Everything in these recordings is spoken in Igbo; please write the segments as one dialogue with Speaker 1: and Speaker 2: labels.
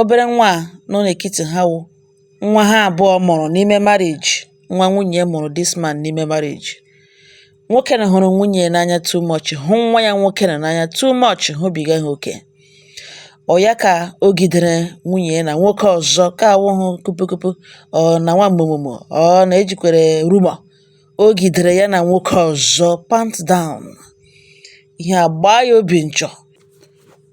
Speaker 1: obere nwa a nọ n'etiti ha wụ nwa ha abụọ mụrụ n'ime marriage, nwa nwunye mụrụ this man n'ime marriage. Nwoke na hụrụ nwunye ya n'anya too much, hụ nwa ya nwoke na n'anya too much, hụbiga ha oke. Ọ ya ka o gidere nwunye ya na nwoke ọzọ ka awụhụ kupukupu ọ na nwa mụmụmụ ọ na-ejikwere rumor o gidere ya na nwoke ọzọ pant down ihe a gbaa ya obi nchọ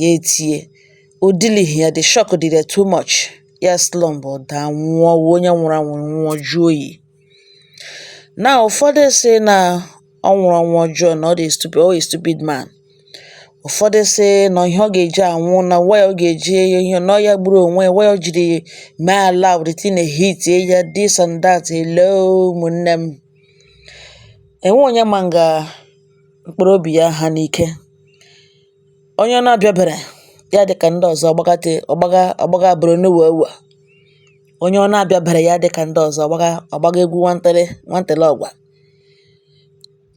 Speaker 1: ya etie o dilighị ya the shock dịrị ya too much ya slump ọ daa nwụọ wụ onye nwụrụ anwụ nwụọ jụọ oyi na ụfọdụ si na ọ nwụrụ ọnwụ ọjọọ na ọ dị stupid ọ stupid man ụfọdụ si na ihe ọ ga-eji anwụ na why ọ ga-eji ihe na ya gburu onwe ya why ọ jiri mee allow the thing hit ya this and that hello ụmụnne m enwe onye ma nga mkpụrụ obi ya ha n'ike onye ọ na-abịabere ya dị ka ndị ọzọ gbagate ọgbaga ọgbaga bụrụ n'ụwa ụwa onye ọ na-abịabere ya dị ka ndị ọzọ ọgbaga egwu nwantele ọgwa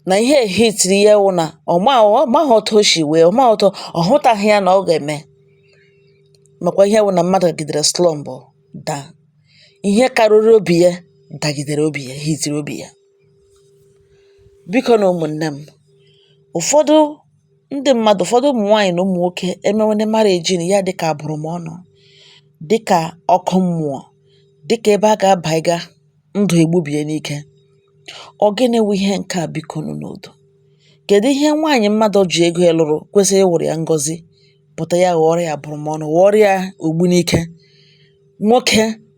Speaker 1: na ihe hitiri ya wụ na ọ maghị otu o si wee ọ maghị otu ọ hụtaghị ya na ọ ga-eme makwa ihe wụ na mmadụ gidere slump daa ihe karịrị obi ya dagidere obi ya hitiri obi ya Biko nụ ụmụnne m, ụfọdụ ndị mmadụ, ụfọdụ ụmụ nwaanyị na ụmụ nwoke emewene marriage na ya dịka abụrụmọnụ, dịka ọkụ mmụọ, dịka ebe a ga-abaiga ndụ egbubie n'ike. Ọ gịnị wụ ihe nke a biko nụ n'udo? Kedu ihe nwaanyị mmadụ ji ego ya lụrụ kwesịrị ịwụrụ ya ngọzi pụta ya ghọọrọ ya abụrụmọnụ, ghọọrọ ya ogbunike? Nwoke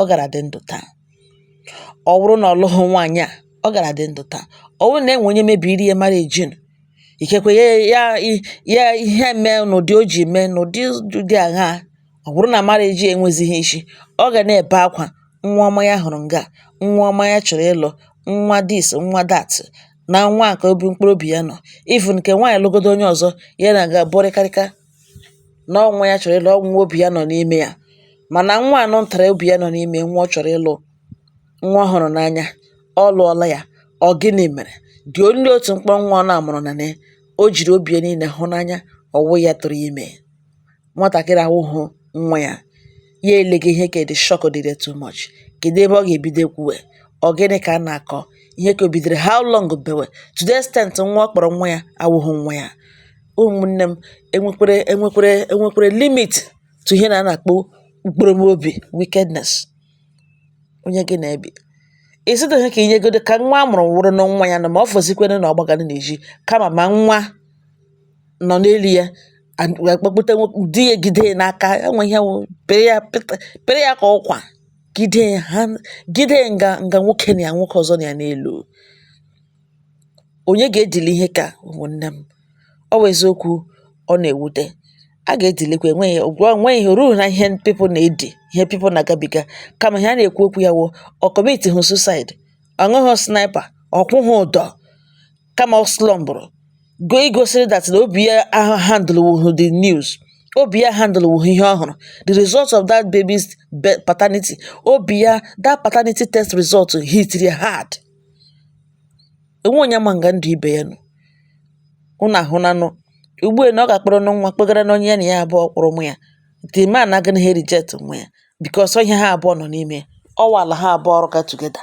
Speaker 1: ọ gara dị ndụ taa ọ bụrụ na ọ lụghị nwaanyị a ọ gara dị ndụ taa ọ bụrụ na enwe onye mebiri ya marriage nụ ikekwe ya ihe mee n'ụdị o ji mee n'ụdị dị agha ọ bụrụ na marriage enwezighị isi ọ ga na-ebe akwa nwa ọma ya hụrụ nga nwa ọma ya chọrọ ịlụ nwa this nwa that na nwa nke obi mkpụrụ obi ya nọ even nke nwaanyị lụgodo onye ọzọ ya na ga bụrịkarịka na ọ nwa ya chọrọ ịlụ, ọ bụ nwa obi ya nọ n'ime ya. Mana nwa a nụtara obi ya nọ n'ime ya, nwa ọ chọrọ ịlụ, nwa ọ hụrụ n'anya, ọ lụọla ya. Ọ gịnị mere? The only otu mkpụrụ nwa ọ na-amụrụ na ya, o jiri obi ya niile hụ n'anya, ọ wụ ya tụrụ ya ime. Nwatakịrị a awụghị nwa ya. ya ele gị ihe ka the shock dịrị ya too much kedu ebe ọ ga-ebido kwuwe ọ gịnị ka a na-akọ ihe ka o bidoro how long bewe to the extent nwa ọ kpọrọ nwa ya awụghị nwa ya ụmụnne m enwekwere limit to ihe na a na-akpọ mkpụrụ m obi wickedness onye gị na-ebi ịsịtaghị ka inyegodo ka nwa a mụrụ wụrụ na nwa ya na ma ọ fọzikwere na ọ gbagara n'ezi kama ma nwa nọ n'elu ya akpọkpụta di ya gide ya n'aka enwe ihe wụ pere ya pere ya ka ọkwa gide ya ha gide ya nga nga nwoke na ya nwoke ọzọ nọ ya n'elu onye ga-edili ihe ka ụmụnne m ọ wụ eziokwu ọ na-ewute a ga-edilikwa enweghị ụgwọ enweghị ihe ruo na ihe people na-edi ihe people na-agabiga kama ihe a na-ekwu okwu ya wụ ọ commitihụ suicide ọ ṅụghị sniper ọ kwụghị ụdọ kama ọ slumpụrụ go igosiri that na obi ya handlewuhu the news obi ya handlewuhu ihe ọ hụrụ the result of that baby's be- paternity obi ya that paternity test result hit ya hard enwe onye ma nga ndụ ibe ya nọ unu ahụnanụ ugbu a na ọ ga-akpọrọ nụ nwa kpegara na onye ya na ya abụọ kpụrụ nwa ya the man agaghị ha reject nwa ya because ihe ha abụọ nọ n'ime ya ọ wala ha abụọ ọrụ ka together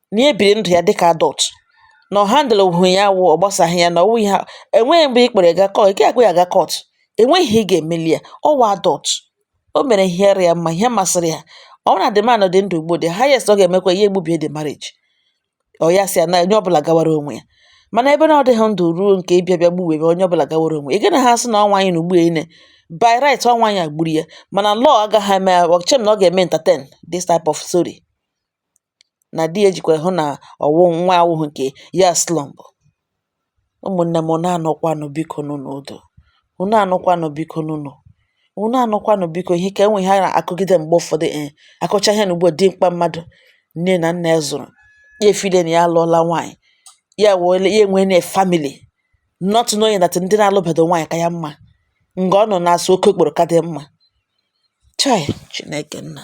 Speaker 1: na ya ebiri ndụ ya dịka adult na ọ handle hụ ya wụ ọ gbasaghị ya na ọwụ ihe enweghị mgbe ị kpere ga court ị ga-akpụ ya ga court enweghị ihe ị ga-emeli ya ọwa adult o mere ihe ara ya mma ihe masịrị ya ọ na the man dị ndụ ugbo the highest ọ ga-emekwa ihe egbubie the marriage ọ ya sị ya na onye ọbụla gawara onwe ya mana ebe na ọ dịghị ndụ ruo nke ịbịa bịa gbuwe ebe onye ọbụla gawara onwe ya gị na ha sị na ọ nwaanyị na ugbu ene by right ọ nwaanyị a gburu ya mana law agaghị eme ọchem na ọ ga-eme entertain this type of story na di ya jikwa hụ na ọwụ nwa awụghị nke ya slump ụmụnne m na-anọkwanụ biko nụ n'udo unu anọkwanụ biko nụ nụ unu anọkwanụ biko ihe ka enwe ihe a na-akụgide mgbe ụfọdụ e eh, akọcha ihe na ugbo dimkpa mmadụ nne na nna ya zụrụ ya e feel na ya alụọla nwaanyị ya wele ya enwe na family not knowing that ndị na-alụbedo nwaanyị ka ya mma nga ọ nọ na-asụ oke okporo ka dị mma chai chineke nna